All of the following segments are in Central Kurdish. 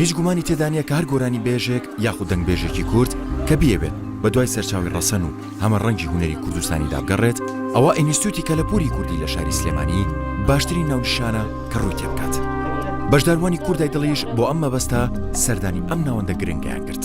هیچ گومانی تێدا نیە کە هەر گۆرانی بێژێک یاخود دەنگ بێژێکی کورد کە بیەوێت بە دوای سەرچاوی ڕەسەن و هەمە ڕەنگی هونەری کوردستانی دابگەڕێت ئەوە ئینیستوتی کە لە پوری کوردی لە شاری سلێمانی باشترین ناونشانە کە ڕووی تێبکات بەشداروانی کوردای دڵیش بۆ ئەم مەبەستە سەردانی ئەم ناوەندە گرنگیان کرد.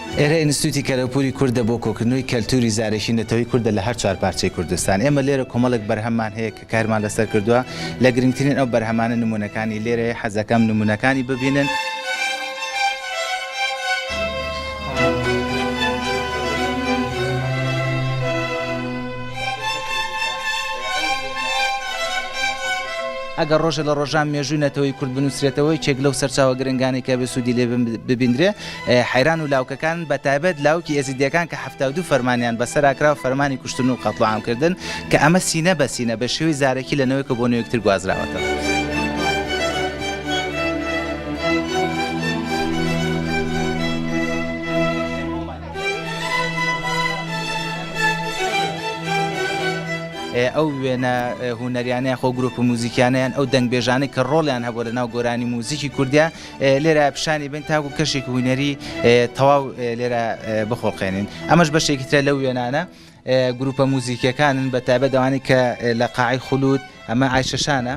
ئێرە ئینستیتووتی کەلەپووری کوردە بۆ کۆکردنەوەی کەلتووری زارەکی نەتەوەی کوردە لە هەر چوار پارچەی کوردستان. ئێمە لێرە کۆمەڵێک بەرهەممان هەیە کە کارمان لەسەر کردووە. لە گرنگترین ئەو بەرهەمانە نموونەکانی لێرەیە، حەزدەکەم نموونەکانی ببینن. ئەگەر ڕۆژێ لە ڕۆژان مێژووی نەتەوەی کورد بنووسرێتەوە، یەکێک لەو سەرچاوە گرنگانەی کە ئەبێ سوودی لێ ببیندرێ، حەیران و لاوکەکان بە تایبەت لاوکی ئێزیدیەکان کە حەفتا و دوو فەرمانیان بەسەرا کرا و فەرمانی کوشتن و قەتڵوعام کردن کە ئەمە سینە بە سینە بە شێوەی زارەکی لە نەوەێکەوە بۆ نەوێکتر گوازراوەتەوە. ئەو وێنە هونەریانە یاخۆ گروپ و موزیکیانیان ئەو دەنگبێژانەی کە ڕۆڵیان هەبوو لە ناو گۆرانی موزیکی کوردیا لێرە پیشانی بن تاکو کەشێکی هوینەری تەواو لێرە بخۆڵقێنین ئەمەش بەشێکی ترە لەو وێنانە گروپە موزیکەکانن بە تابە دەوانی کە لە قاعی خولوود ئەمە ئایشەشانە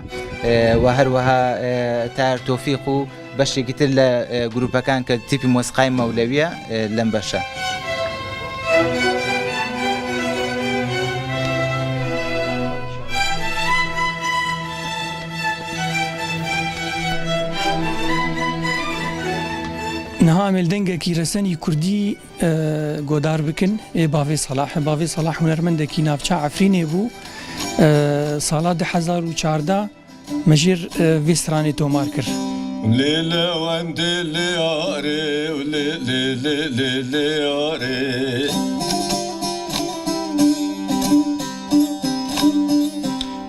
و هەروەها تار تۆفیق و بەشێکی تر لە گروپەکان کە تیپی مۆسقای مەولەویە لەم بەشە. نها ئەمێل دەنگەکی رەسەنی کوردی گۆدار بکن ئێ باێ سەلاح باێ سەلاح هوەرمەندەکی ناوچە ئەفرینێ بوو ساڵا 2014 مەژێر ڤێسترانێ تۆمار کرد. لێ لەوەندێ لێ ئارێ و لێ لێ لێ لێ لێ ئارێ.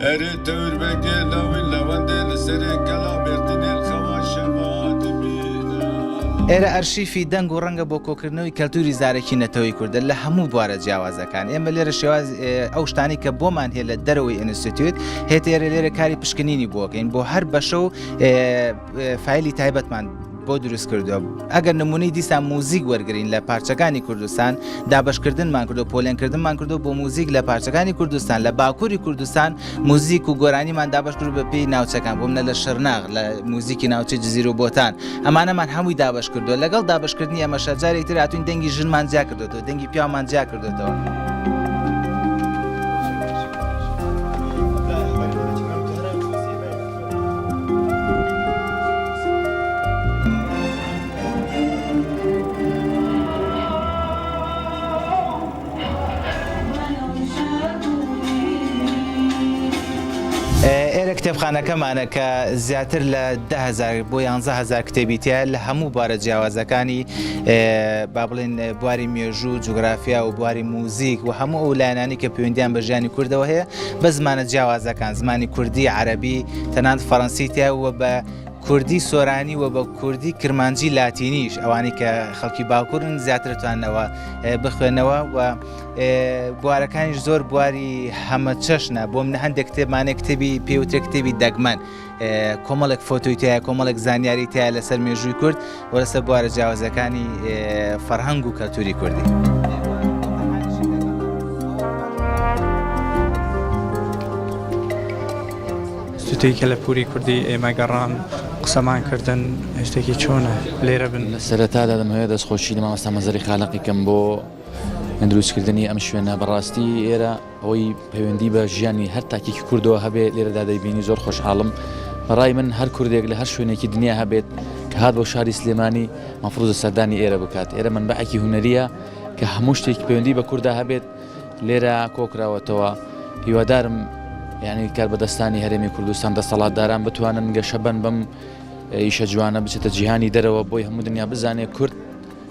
ئەرێ تەور بەگێ لاوین لاوەندێ لە سەرێ گەڵا بێرتنێل خەوا شەبا دبینا. ئێرە ئەرشیفی دەنگ و ڕەنگە بۆ کۆکردنەوەی کەلتوری زارەکی نەتەوەی کوردە لە هەموو بوارە جیاوازەکان ئێمە لێرە شێوازی ئەو شتانەی کە بۆمان هەیە لە دەرەوەی ئینستیتوت هێتێرە لێرە کاری پشکنینی بۆکەین بۆ هەر بەشە و فایلی تایبەتمان بۆ دروست کردو ئەگەر نمونەی دیسان موزیک وەرگین لە پارچەکانی کوردستان دابشکردنمان کردو پۆلێنکردنمان کردو بۆ موزیک لە پارچەکانی کوردستان لە باکووری کوردستان موزیک و گۆرانیمان دابشکرد بە پێی ناوچەکان بۆم نە لە شەرناغ لە موزیکی ناوچە جززیر و بۆتان ئەمانەمان هەمووی دابش کردو لەگەڵ دابشکردنی ئەمە شەرجارێک تراتون دەنگی ژنمان جیا کردو دەنگی پیامان جیا کردێتەوە. ئێرە کتێبخانەکەمانە کە زیاتر لە دە هزار بۆ یانزە هزار کتێبی تایە لە هەموو بارە جیاوازەکانی با بڵێن بواری مێژوو جوگرافیا و بواری موزیک و هەموو ئەو لایەنانی کە پەیوەندیان بە ژیانی کوردەوە هەیە بە زمانە جیاوازەکان، زمانی کوردی، عەرەبی، تەنانەت فەرەنسی تیا و بە کوردی سۆرانی و بە کوردی کرمانجی لاتینیش ئەوانەی کە خەڵکی باکوورن زیاتر توانەوە بخوێنەوە و بوارەکانیش زۆر بواری هەمە چەشنە بۆم نە هەندێک کتێبمانێک کتێبی پێوتێک کتێبی دەگمەن کۆمەڵێک فۆتۆی تایە کۆمەڵێک زانیاری تایە لەسەر مێژووی کورد و لەسەر بوارە جیاوازەکانی فەرهەنگ و کەلتوری کوردی. شتێک کە لە پوری کوردی ئێمە گەڕان قسەمان کردن هشتێکی چۆنە لێرە بن لە سەرەتادا دەمهەیە دەستخۆشی لە مامەستا مەزەری خالقیکەم بۆ دروستکردنی ئەم شوێنە بەڕاستی ئێرە ئەوەی پەیوەندی بە ژیانی هەر تاکێکی کوردەوە هەبێ لێرەدا دەیبینی زۆر خۆشحاڵم بەڕای من هەر کوردێک لە هەر شوێنێکی دنیا هەبێت کە هاات بۆ شاری سلێمانی مەفروزە سەردانی ئێرە بکات ئێرە من بەعکی هوەریە کە هەموو شتێک پەیوەندی بە کووردا هەبێت لێرە کۆکراوەتەوە هیوادارم یعنی کار بەدەستانی هەرێمی کوردستان دەسەڵاتداران بتوانن گەشە بن بم ئیشە جوانە بچێتە جیهانی دەرەوە بۆی هەموو دنیا بزانێ کورد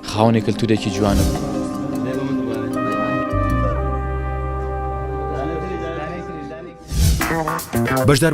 خاوەنی کلتورێکی جوانە بوو. بەشدار